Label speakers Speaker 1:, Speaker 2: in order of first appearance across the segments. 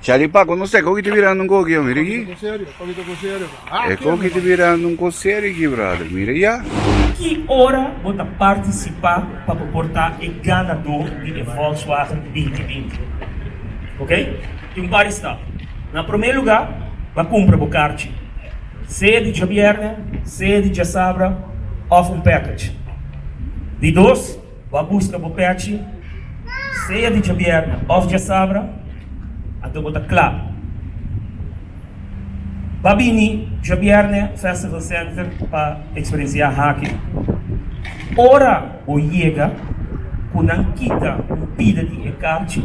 Speaker 1: Charlie Paco, no sé, koki ta birando un koki, mira aki. Koki ta serio, koki ta ku serio. E koki ta birando un ko serio aki, brother, mira ya. Ki ora bo ta partisipá pa bo por ta e ganadó di e Volkswagen binti binti? Okey, tin un par di stap. Na promé lugá, ba kumpra bo karchi, sea di djabièrnè, sea di djasabra òf un package. Di dos. Bo a buska bo pèchi, sea di djabièrna òf djasabra, anto bo ta kla. Ba bini djabièrnè Festival Center pa eksperensiá haki. Ora bo yega, ku nan kita un pida di e karchi.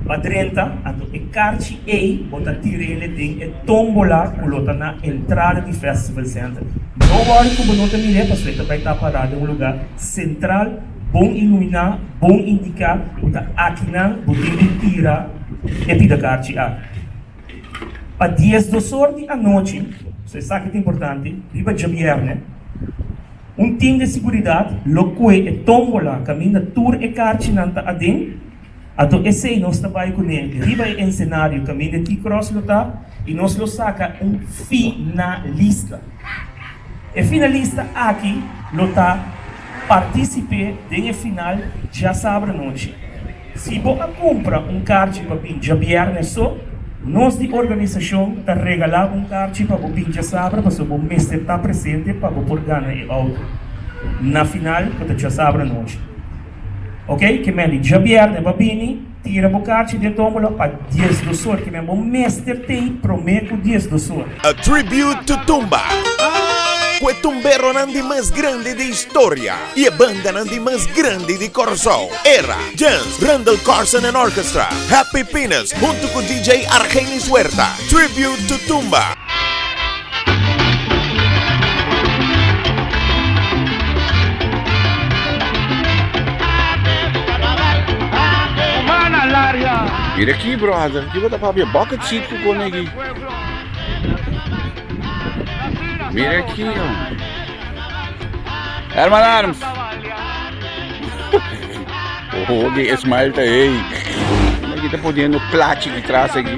Speaker 1: Pa drenta, anto e karchi ei bo ta tir'ele den e tombola ku lo ta na entrada di Festival Center. No wòri ku bo no ta mir'e pasobra e ta bai ta pará den un lugá sentral, bon iluminá, bon indiká ku ta aki nan bo tin di tira e pida karchi aki. Pa dies dosor di anochi, so esaki ta importante, riba djabièrnè, un tim di seguridat lo kue e tombola kaminda tur e karchinan ta aden, Anto esei nos ta bai kuné riba e ensenario kaminda T Cross lo ta i nos lo saka un finalista. E finalista aki lo ta partisip'é den e final djasabra nochi. Si bo a kumpra un karchi pa bin djabièrnè so, nos di organisashon ta regalá un karchi pa bo bin djasabra pasobra bo mester ta presente pa bo por gana e outo na final ku ta djasabra nochi. Ok, ke men di djabièrnè ba bini, tira bo karchi den tómbola pa dies dos or, ke men bo mester tei promé ku dies dos or. A Tribute to Tumba Ku e tumberonan di mas grandi di historia i e bandanan di mas grandi di Kòrsou, Era, Jens, Randall Carson and Orchestra, Happy Pinas, huntu ku DJ Argenis Huerta, Tribute to Tumba. Mira aki brother, kiba ta papia bucket seat ku konegi. Mira aki hombre. Herman Arms. Oh, di smile ta hey. Aquí está poniendo plachi detrás aquí.